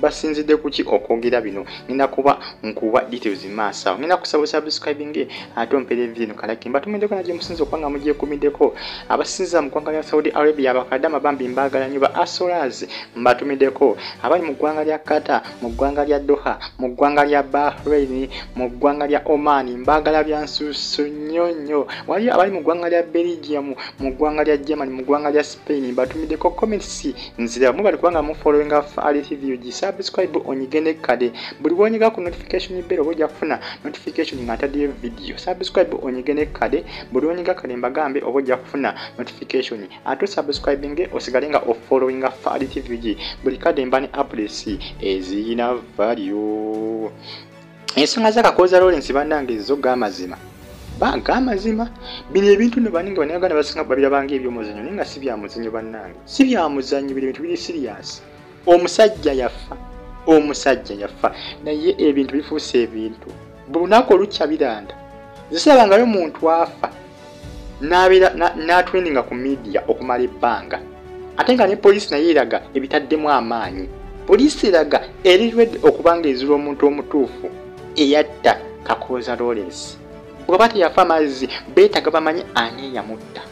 basinzidde kuki okwogera bino ngenda kuba nkuba details maaso awo ngenda kusaba subscribing ate ompere evi eno kalaki mbatumiddeko naje musinza okuba nga mugyekumiddeko abasinza mu ggwanga lya saudi arabia abakadama bambi mbaagala nyo ba asolas mbatumiddeko abali mu ggwanga lya kata mu ggwanga lya doha mu ggwanga lya bahrain mu ggwanga lya oman mbaagala byansusu nnyo nnyo waliyo abali mu ggwanga lya belgium mu ggwanga lya germany mu ggwanga lya spain Payne mbatumideko comments nzira mubali kubanga mu following of Ali TV uji subscribe onyigende kade buli wonyega ku notification bell oja kufuna notification nga ntadiye video subscribe onyigende kade buli wonyega kade mbagambe oja kufuna notification ato subscribing osigale nga of following of Ali TV uji buli kade mbani updates ezina value ensonga za kakooza lawrence banange zo gamazima banka amazima bino ebintu no baninga banayaganda basinga babirabanga ebyomuzanyo naye nga si byamuzanyo bannange si byamuzanyo bino ebintu biri siriyasi omusajja yafa omusajja yafa naye ebintu bifuuse ebintu buli lunaku olukya biranda zisirabangayo muntu afa n'abeera n'atrendinga ku midiya okumala ebbanga ate nga ne poliisi naye eraga ebitaddemu amaanyi poliisi eraga eri redi okuba nga ezira omuntu omutuufu eyatta kakooza lawrence bwaba teyafa amazzi beetaga bamanyi ani eyamutta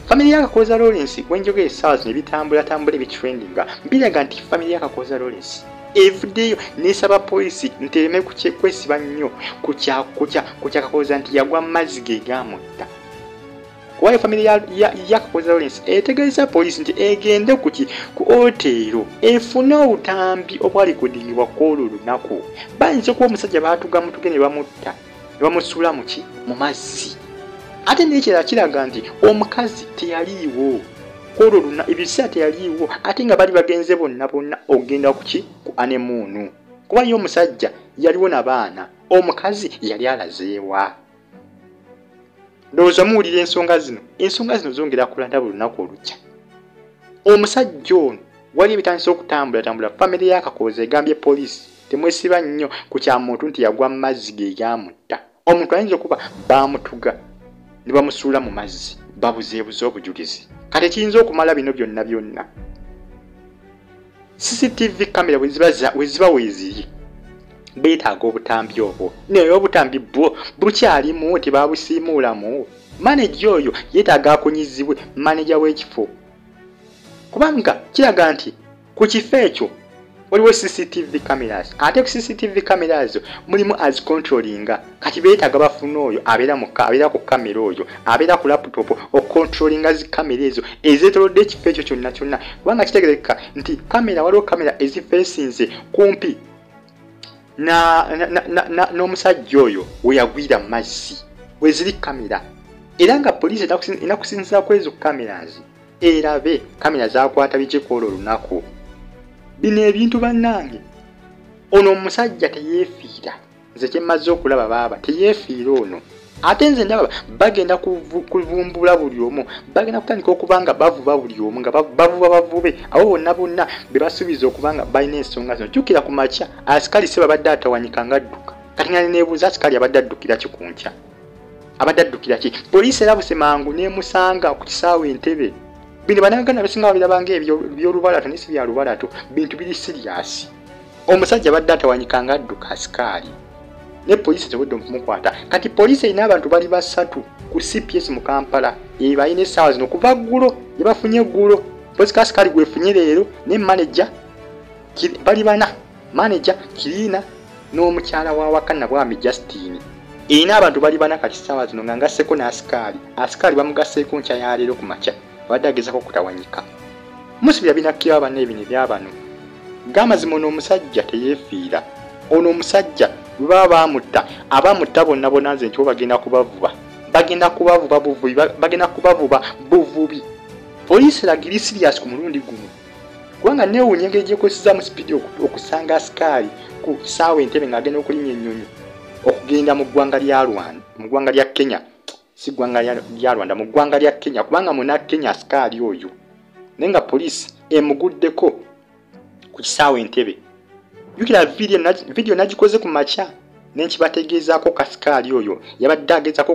famire ya kakooza lawrence wenjogera esaawa zino ebitambulatambula ebitrendinga biraga nti famire ya kakooza lawrence evudeyo nesaba poliisi nti ereme kwesiba nnyo kukyakakoza nti yagwa mu mazzi ge gamutta kubayo famire yakakoza lawrence etegeeza poliisi nti egende kuki ku oteero efune obutambi obwalikodingibwa kwolwo olunaku bayinza okuba omusajja baatugamutuge ne bamutta nebamusuula muki mu mazzi ate nekirala kiraga nti omukazi teyaliiwo kwolwo luna ebiseera teyaliiwo ate nga bali bagenze bonna bonna okugenda kuki ku anemuunu kuba ye omusajja yaliwo na baana omukazi yali alazeewa ndowooza muwulira ensonga zino ensonga zino zongera kulanda buli lunaku olukya omusajja ono wali ebitandisa okutambula tambula famire yakakooza egambye poliisi temwesiba nnyo ku kya muntu nti yagwa mu mazzi ge gamutta omuntu ayinza okuba baamutuga ne bamusuula mu mazzi babuzeebuze obujulizi kati kiyinza okumala bino byonna byonna cctv camera weziba weziri betaaga obutambi obwo naye obutambi bwo bukyalimu tebabusiimuulamu maneja oyo yetaaga akunyizibwe maneja w'ekifo kubanga kiraga nti ku kifo ekyo waliwo cctv cameras ate ku cctv cameras mulimu azicontrolinga kati beetaaga bafuna oyo abeera mu abeera ku kamera oyo abeera ku laptop okontrolinga zi kamera ezo ezeetolodde ekifo ekyo kyonna kyonna kubanga kitegereka nti kamera waliwo kamera ezifeesinze kumpi n'omusajja oyo weyagwira mu mazzi weziri kamera era nga poliisi enakusinzira ku ezo cameras erabe kamera zakwata bikikwoola olunaku bino ebintu bannange ono omusajja teyeefiira nze kyemmaze okulaba baaba teyeefiira ono ate nze ndaba bagenda kuvumbula buli omu bagenda kutandika okuba nga bavuba buli omu nga bavuba bavube abo bonna bonna be basuubiza okuba nga balina ensonga zino jjukira ku makya asikali se babadde atawanyika nga adduka kati nga nebuuza asikali abadde addukira ki ku nkya abadde addukira ki poliisi erabuse mangu n'emusanga ku kisaawe entebe bino banaganda besinga babirabanga ebyolubalato nesi bya lubalato bintu biri siriyasi omusajja badde atawanyika nga adduka asikaali ne poliisi tewedde okumukwata kati poliisi erina abantu bali basatu ku cps mu kampala ebalina essaawa zino kuva ggulo gye bafunye eggulo poliisi kasikaali gwefunye leero ne maneja bali bana maneja kiriina n'omukyala wa waka nabwami justine erina abantu bali bana kati ssaawa zino nga ngasseko n'asikaali asikaali bamugasseeko nkya ya leero ku makya abadde agezako kutawanyika musibi yabinakkira abanna ebino ebyabano gamazima ono omusajja teyefiira ono omusajja bwebaba bamutta abamutta bonna bona nze ntibo bagenda kubavuba bagenda kubavuba buvubi bagenda kubavuba buvubi poliisi lagiri sirias ku mulundi guno kubanga newunya engeri gyekozesezaamu sipiidi okusanga asikaali ku saawa entebe ng'agenda okulinya ennyonyi okugenda mu ggwanga lya rwanda mu ggwanga lya kenya si ggwanga lya rwanda mu ggwanga lya kenya kubanga muna kenya asikaali oyo naye nga poliisi emuguddeko ku kisaawa entebe jukira vidiyo nagikoze ku makya nenkibategeezaako kasikaali oyo yabadde agezako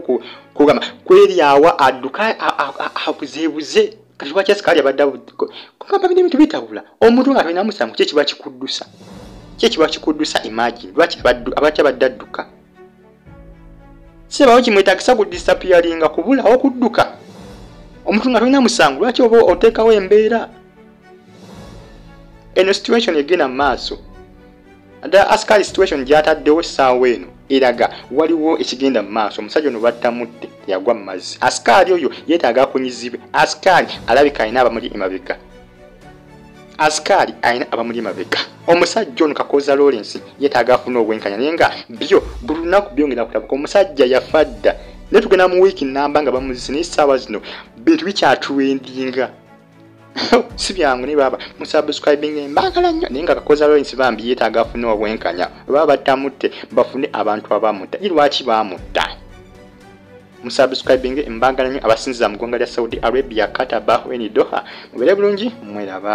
kugamba kweryawa adduka abuzeebuze kati lwaki asikaali abadde kugamba bino ebintu bitabula omuntu nga toinamusango kyekiba kikuddusa kyekiba kikuddusa imagine lwaki abadde adduka sebawo kimwetagisa ku disapiyaringa kubulawo kudduka omuntu nga tolina musango lwaki oba oteekawo embeera eno situation egenda mu maaso ddala askari situation gyataddewo essaawa eno eraga waliwo ekigenda mu maaso omusajja ono battamutte yagwa mu mazzi askari oyo yeetaaga akunyizibwe askari alabika alina abamuli emabega asikaali alina abamuli emabega omusajja ono kakooza lawrence yetaaga afuna obwenkanya naye nga byo buli lunaku byongera kulabuka omusajja yafa dda naye tugenda mu wiiki namba nga bamuzise naye essaawa zino bintu bikyatuwendinga si byangu naye baaba musubscribing mbagala nnyo naye nga kakooza lawrence bambi yetaaga afune obwenkanya baba batamutte bafune abantu abamutta i lwaki bamutta musubscribinge mbagala nyo abasinziza mu ggwanga lya saudi arabia katabahu eni doha mubere bulungi mweraba